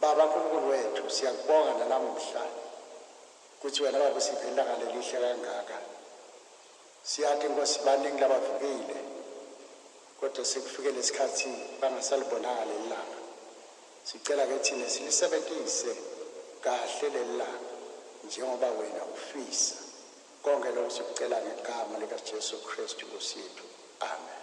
Baba Nkulunkulu wethu siyakubonga nanamuhla kuthi wena baba usiphe ilanga lelihle kangaka siyati Nkosi baningi labavukile kodwa sekufike lesikhathi bangasalibonanga lelilanga sicela ke thina silisebentise kahle lelilanga njengoba wena ufisa konke lokho sikucela ngegama likaJesu Kristu Nkosi yethu amen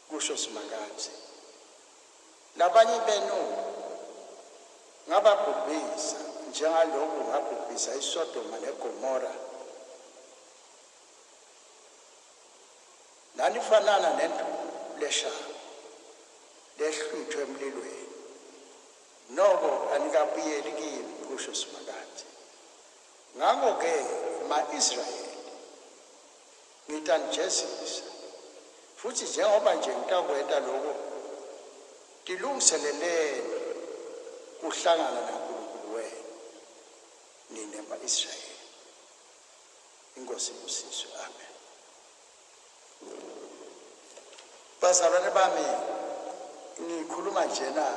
Kusho uSimakade. Nabanye benu ngababhubhisa njengaloku ngabhubhisa iSodoma neGomora. Nanifanana nenduku leshamu lehlwithwe emlilweni. Noko anikabuyeli kimi, kusho uSimakade. Ngakho-ke, ma-Israyeli, Ngitanijezisa. Futhi njengoba nje ngitakwenta loko, tilungiseleleni kuhlangana naNkulunkulu wenu, nine ma-Israyeli. INkosi ibusiswe. Amen. Bazalwane bami, ngikhuluma njena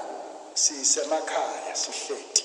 sisemakhaya, sihleti.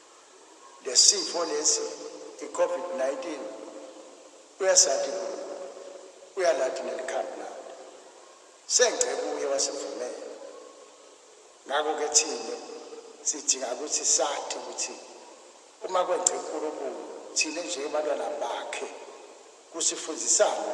lesifo lesi iCovid 19 uyasathi kubo uyalathi nelikhambi labo sengce kuye wasivumela ngakho ke thina sidinga ukuthi sathi ukuthi uma kwenze uNkulunkulu thina njengabantwana bakhe kusifundisana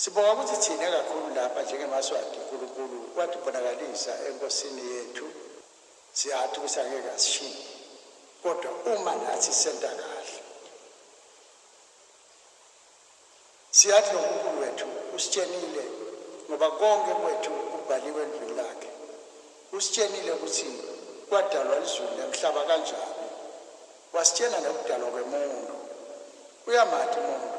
Sibonga ukuthi thina kakhulu lapha njengemaSwati uNkulunkulu watibonakalisa eNkosini yethu Siyathi ukuthi angeke asishiye kodwa uma nathi senta kahle. Siyathi loNkulunkulu wethu usitshenile ngoba konke kwethu kubhaliwe endlwini lakhe. Usitshenile ukuthi kwadalwa izulu nemhlaba kanjani. Wasitshena nokudalwa kwemuntu. Uyamati umuntu.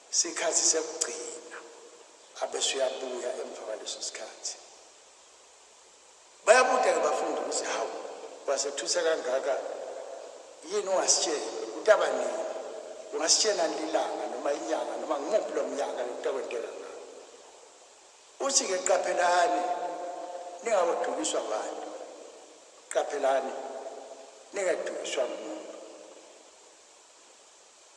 Sikhathi sekugcina abese uyabuya emva kwaleso sikhathi. Bayabuda-ke bafundi ukuthi hawu wasethusa kangaka yini ungasitshela utaba nini ungasitshela nilanga noma inyanga noma ngimuphi lo mnyaka lokutakwentekanga uthi-ke qaphelani ningakodukiswa abantu qaphelani ningadukiswa muntu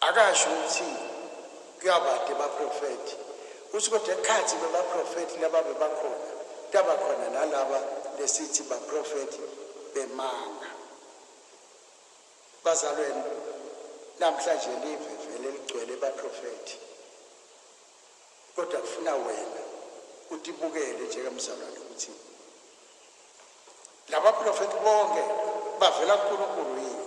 Akasho ukuthi kuyabade baprofethi. Uthi kodwa ekhathi bebaprofethi laba bebakhona, kuyaba khona nalaba lesithi baprofethi bemanga. Bazalweni, namhlanje live vele ligcwele baprofethi. Kodwa kufuna wena utibukele njengemzalwane ukuthi laba profethi bonke bavela kuNkulunkulu yini?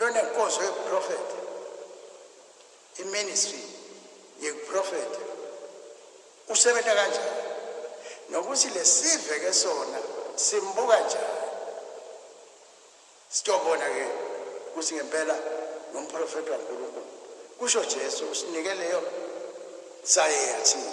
Lonenkozo yobuprofetho, iministry yokuprofetha, usebenza kanjani nokuthi lesive ke sona simbuka njani. Sitobona ke ukuthi ngempela ngumprofethi waNkulunkulu. Kusho Jesu usinike leyo sayeyathini.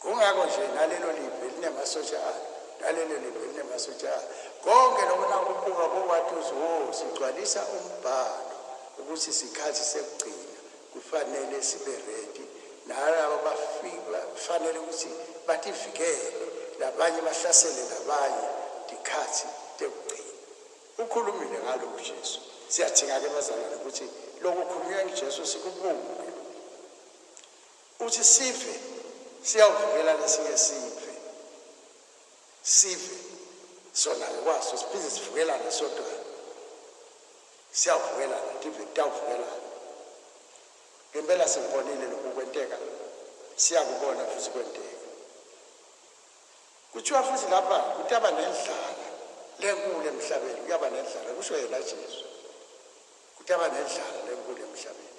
Kungakho nje nalelo live linemasosha alo, nalelo live linemasosha alo. Konke lokho nakubuka kokwathi uthi wo sigcwalisa umbhalo ukuthi sikhathi sekugcina kufanele sibe ready nalaba bafika kufanele ukuthi bativikele labanye bahlasele labanye dikhathi tekugcina. Ukhulumile ngaloku Jesu. Siyadinga-ke bazalwane ukuthi loku khulunywa ngiJesu sikubuke. Uthi sife siyawuvikela nesinye sife sife sona ngokwaso siphinde sivukelane sodwana siyawuvukelana ndive kutawuvukelana ngempela sikubonile lokhu kwenteka siyakubona futhi kwenteka kuthiwa futhi lapha kutaba nendlala lenkulu emhlabeni kuyaba nendlala kusho yena jesu kutaba nendlala lenkulu emhlabeni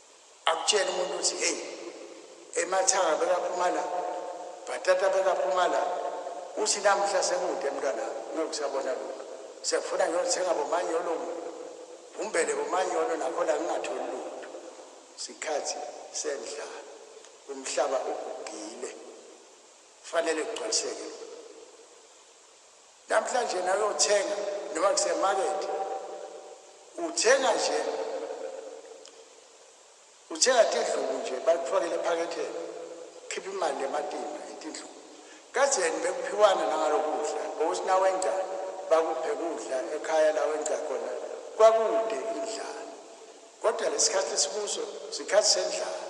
Akutshela umuntu ukuthi hey emathanga bekaphuma la bhatata bekaphuma la uthi namhla sekude mntwana ngeke usabona lutho sekufuna ngiyothenga bomanyolo umbele bomanyolo nakho la ngingatholi lutho sikhathi sendlala umhlaba ugugile kufanele kugcwaliseke Namhlanje nawe uthenga noma kusemarket uthenga nje uthenga tindlubu nje bakufakele ephaketheni khipha imali ematimba itindlubu kazeni bekuphiwana nangalokudla ngokusinawenca bakuphe kudla ekhaya la wenca khona kwakude indlala kodwa lesikhathi esikuso sikhathi sendlala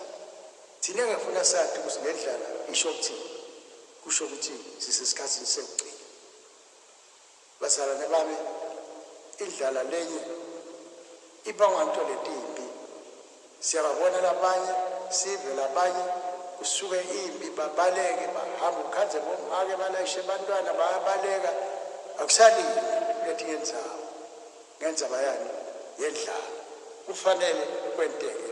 thina ngefuna sathi ukuthi le ndlala isho ukuthini Kusho ukuthi sisesikhathini sekugcina. Bazalwane bami, indlala lenye ibangwa nto letimbi. Siyababona labanye, sive labanye, kusuke impi babaleke bahamba ukhandze bomake balayishe bantwana bayabaleka akusalimi kuletinye ndzawo ngendzaba yani yendlala kufanele kwenteke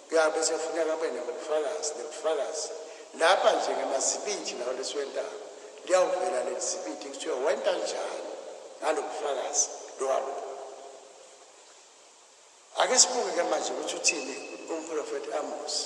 Ya bese kufuneka kube nobufakazi nobufakazi lapha nje ngamazibindi lawo lesiwentaba liyawuvela leli zibindi kuthiwa wenta njani ngalo bufakazi lowabo ake sibuke ke manje ukuthi uthini umprofethi amosi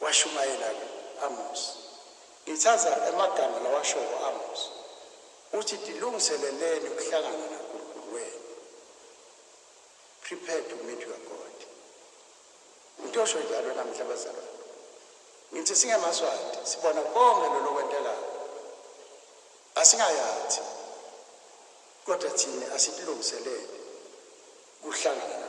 Washumayela ke Amos. Ngithaza emagama lawashoko Amos. Uthi tilungiseleleni ukuhlangana naNkulunkulu wenu. Prepare to meet your God. Ngitosho njalo namhla bazalwane. Ngithi singemaswati sibona konke lolo kwentekayo. Asingayathi kodwa thina asitilungiselele kuhlangana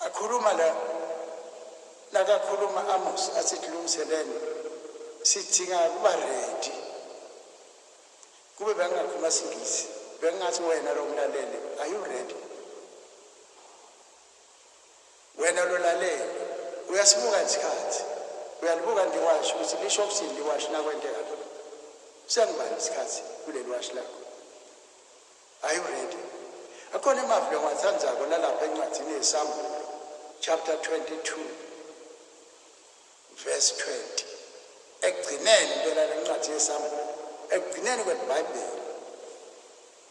Akhuluma la nakakhuluma Amos athi tilungiseleni sidinga kuba ready kube bengingakhuluma singisi bengingathi wena lo mlaleli are you ready wena lo laleli uyasibuka isikhathi uyalibuka ndiwasho ukuthi lisho ukuthini liwasho nakwenteka lo sengibani isikhathi kuleli washo lakho Are you ready? Akhona emavli engiwathandzako lalapha encwadzini yeSambulo chapter 22 verse 20. Ekugcineni impela lencwadzi yeSambulo, ekugcineni kweBhayibheli.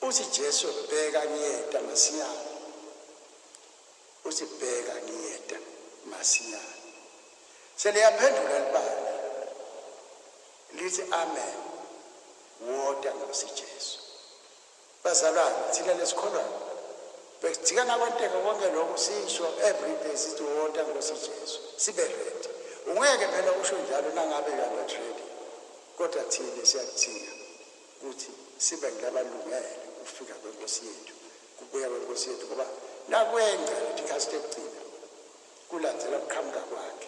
Uthi Jesu bheka ngiyeta masinyane. Uthi bheka ngiyeta masinyane. Seliyaphendula libali. Lithi amen. Woda Nkosi Jesu. Bazalwane thina nesikholwayo bekujika nakwenteke konke lokhu sisho everyday sithi wota Nkosi Jesu sibe ready. Ungeke phela usho njalo nangabe you are not ready kodwa thina siyakuthiya ukuthi sibe ngilabalungele ukufika kwenkosi yethu kubuya kwenkosi yethu ngoba nakwenca lithi khasi tekugcina kulandzela kuqhamuka kwakhe.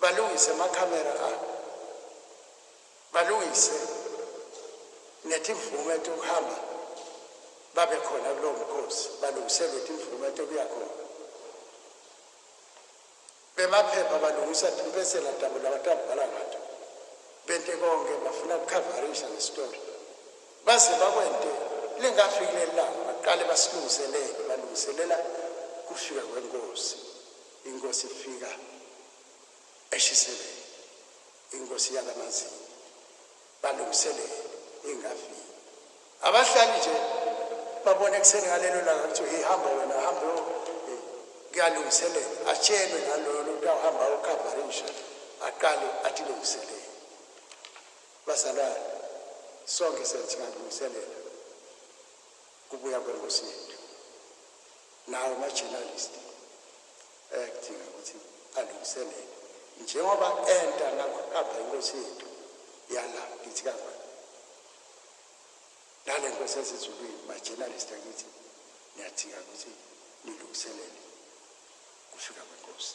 Balungise ama camera abo. Balungise nethi imvume ethi ukuhamba babe khona kulowo mkhosi balungisele ukuthi imvume ethi kuya khona. Bemaphepha balungisa impesela dabo labatabhala ngathi. Bente konke bafuna ukukhavarisha nesitori. Baze bakwente lingafiki lelanga baqale basilungiselele balungiselela kufika kwenkosi. Inkosi ifika eshiseleni inkosi yalamazinyo balungiselele ingafiki abahlali nje babona ekuseni ngalelo langa kuthiwa hihamba wena hambe kuyalungiselela atshelwe naloyo lokuthi awuhamba okhavarisha aqale athi lungiselele bazalwane sonke sensingalungiselela kubuya kwenkosi yethu Nawo ama journalist ayakudinga ukuthi alungiselele njengoba enta nakuqamba inkosi yethu yala kithi kangwane. Nale nkosi yasezulwini ma journalist akithi niyadinga ukuthi nilungiselele kufika kwenkosi.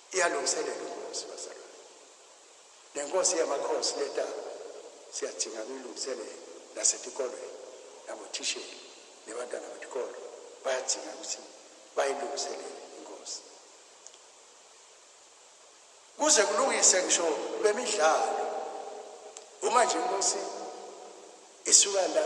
iyalungiselela umuzi bazalwane nenkosi yamakhosi letaba siyadinga kuyilungiselela nasetikolweni nabothisheli nebantwana betikolo bayadinga ukuthi bayilungiselele inkosi kuze kulungise ngisho bemidlalo uma nje inkosi isuka la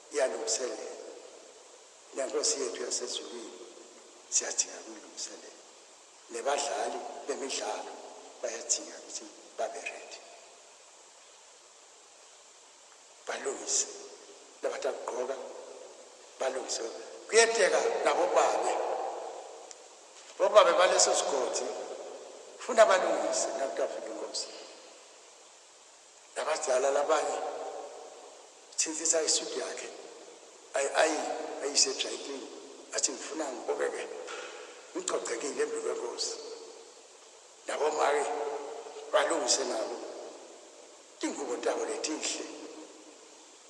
Iyalungiselela. NeNkosi yethu yaseZulwini siyadinga ukuyilungiselela. Nebadlali bemidlalo bayadinga ukuthi babe ready. Balungise labantu abagqoka balungise. Kuyenteka nabobabe. Bobabe baleso sigodi funa balungise nakutafika inkosi. Nabadala labanye thintitha i suit yakhe ay ay ayise dry clean athi ngifuna ngibokeke ngigcogcekile embi kwenkosi. Nabo make balungise nabo tingubo tabo letinhle.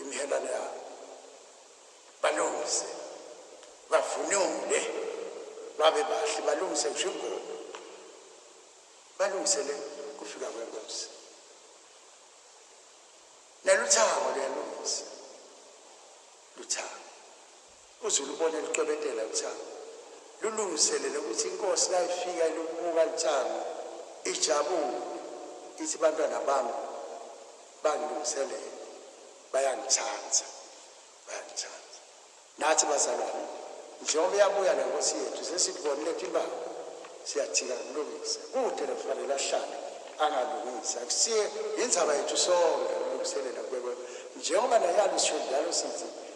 Imihelwane yabo. Balungise. Bavunule. Babe bahle. Balungise ngisho ingubo. Balungisele kufika kwenkosi. Neluthango luyalungisa. Luthango. UZulu ubona elucwebetela uThango. Lulungiselele ukuthi inkosi nayifika ilubuka luThango ijabule ithi bantwana bami bangilungiselele bayangithanda bayangithanda. Nathi bazalwane njengoba iyabuya le nkosi yethu sesikubonile ukuthi ibanga siyathika kulungisa kude lekufanele ahlale angalungisi akusiye yinzaba yethu sonke ukulungiselela kubekwe njengoba nayalo sisho njalo sithi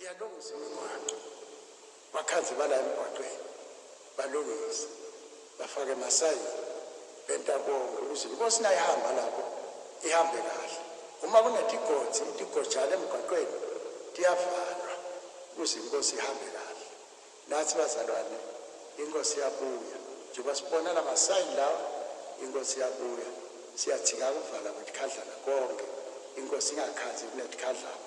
Iyalungisa imigwaqo. Bakhazibala emgwaqweni. Balungise. Bafake masayini. Benta konke ukuze inkosi nayo ihamba lapho ihambe kahle. Uma kunetigodzi, itigojana emgwaqweni tiyavalwa ukuze inkosi ihambe kahle. Nathi bazalwane, inkosi iyabuya. Njengoba sibona la masayini lawa, inkosi iyabuya. Siyathika ukuvala kwetikhadlana konke. Inkosi ingakhazi kunetikhadlana.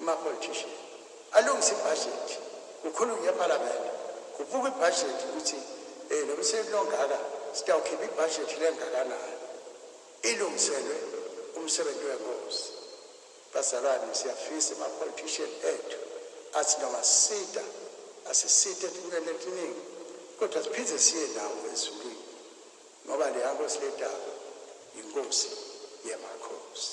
Amapolitician alungise ibhajethi kukhulunywe ephalamende kubukwe ibhajethi ukuthi um nomsebenzi ongaka sitawukhipha ibhajethi lengakanani ilungiselwe umsebenzi wenkosi. Bazalwane siyafisa amapolitician ethu athi noma sisida asiside entweni etiningi kodwa siphinde siye nawo ezulwini ngoba leya nkosi ledaba yinkosi yemakhosi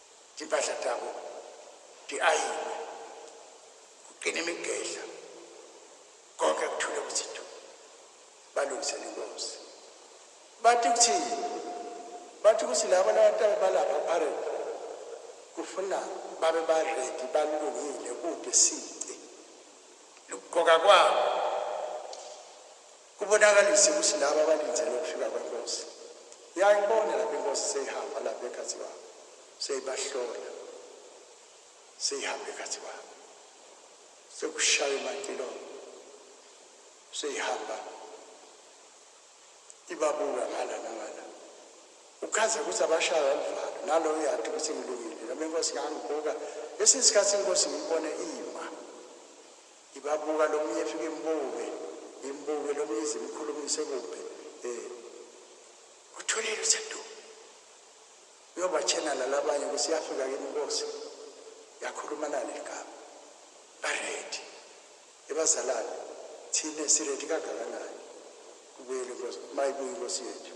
Impahla tabo tiayinwe kuqina imigedla konke kuthule kuthi du balungisele inkosi bathi kuthini bathi ukuthi laba labataba balapha parade kufuna babe baredi balungile kude sici lukuqoka kwabo Ubonakalise ukuthi laba abalindele ukufika kwenkosi. Uyayibona lapha inkosi seyihamba lapha ekhathi kwabo. Seyibahlola. Seyihamba ekhathi kwabo. Sekushaya imantilo. Seyihamba. Ibabuka ngala nangala. Ukhaza ukuthi abashaya umvalo. Nalo uyathi ukuthi ngilungile. Noma inkosi ngangibuka. Esinye isikhathi inkosi ngibone iyi Ibabuka lomunye fika imbuke imbuke lomunye ize imkhulumise kubi eh uthulile usentu uyobatshena lalabanye ukuthi yafika kimi inkosi yakhuluma nani ligama baredi ebazalane thina siredi kangakanani kubuyele inkosi mayibuye inkosi yethu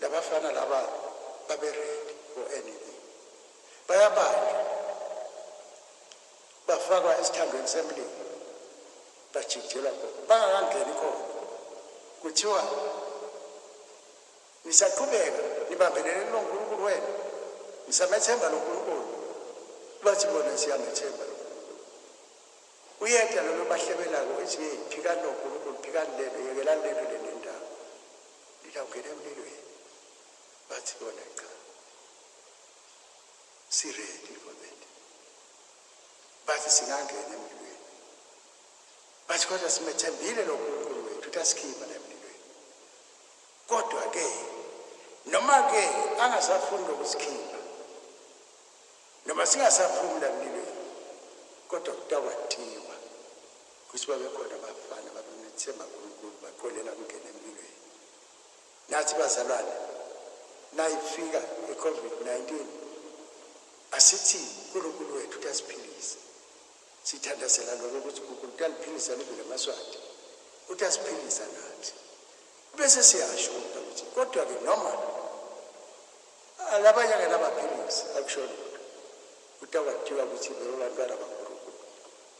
Labafana laba babe ready for anything. Bayabanjwa. Bafakwa esithandweni semlilo. Bajijelwa khona. Bangakangeni khona. Kuthiwa nisaqhubeka nibambelele kuloNkulunkulu wenu. Nisamethemba loNkulunkulu. Bathi bona siyamethemba uyedwa lolo bahlebelako ezinye phikani lonkulunkulu phikani lelo yekelani lelo lendaba Nina ungena emlilweni bathi bona cha si ready for that bathi singangena emlilweni bathi kodwa simethembile lo nkulunkulu wethu ukuthi asikhipha la emlilweni kodwa ke noma ke angasafuni lokusikhipha noma singasaphumi la emlilweni kodwa kutakwathiwa Kusho babekhona abafana ababemethemba uNkulunkulu baqolela ukungena empilweni. Nathi bazalwane nayifika iCovid-19 asithi uNkulunkulu wethu uyasiphilisa. Sithandazela lokho ukuthi uNkulunkulu uyaliphilisa live lamaSwati. Uyasiphilisa nathi. Bese siyasho ukuthi kodwa ke noma alabanye akanabaphilisi akusho lutho. Utakwadiywa ukuthi bebabantwana bakho.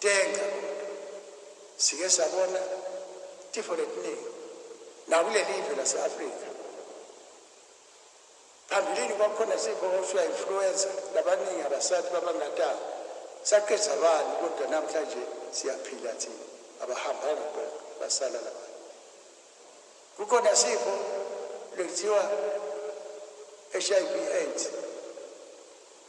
Tenga, sike sabona tifo letiningi nakulelive lase-afrika phambilini kwakukhona sifo okuthiwa influenza labaningi abasathi babangatanga saqedza bani kodwa namhlanje siyaphila thina abahambanga konke basala laba kukhona sifo lekuthiwa hiv aids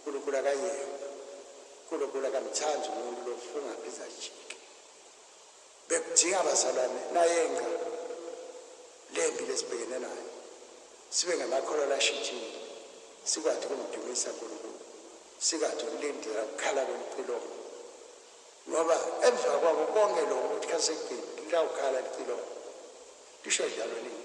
Nkulunkulu akayena Nkulunkulu akamthandi umuntu lofunga phinde ajike bekudinga abazalwane nayenqa lembi lesibhekene nayo sibe ngamakholwa lashintshile sikwathi ukumdumisa Nkulunkulu sikade ukulindela ukukhala kwempilongo ngoba emva kwako konke lokho ukuthi khasekugcini lawukhala lipilongo lisho njalo nini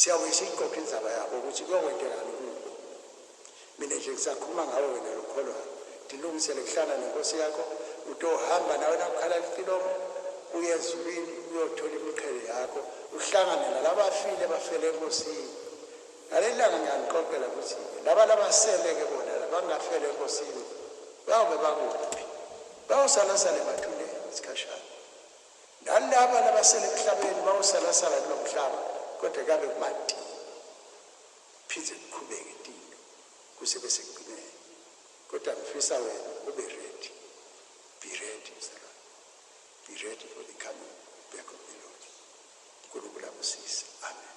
Siyabuye siyixoxe inzaba yabo ukuthi kuyokwentekani kubo. Mina nje ngisakhuluma ngawe wena lokholwayo. Ndilungisele kuhlala nenkosi yakho, utohamba nawe nakukhala litilomo, uye ezulwini uyothola imiqhele yakho, uhlangane nalabafile bafele enkosini. Ngaleli langa ngiyanixoxela ukuthi laba labasele-ke bona labangafela enkosini bayobe bakuphi? Bayosalasala emathuneni isikhashana. Nalaba nabasele emhlabeni mawusalasala kulomhlaba kodwa kabe kubanti. Phinde kuqhubeke tinto kuze bese kugcineni. Kodwa ngifisa wena ube ready. Be ready mzalwane. Be ready for the coming back of the Lord. Nkulunkulu akusise. Amen.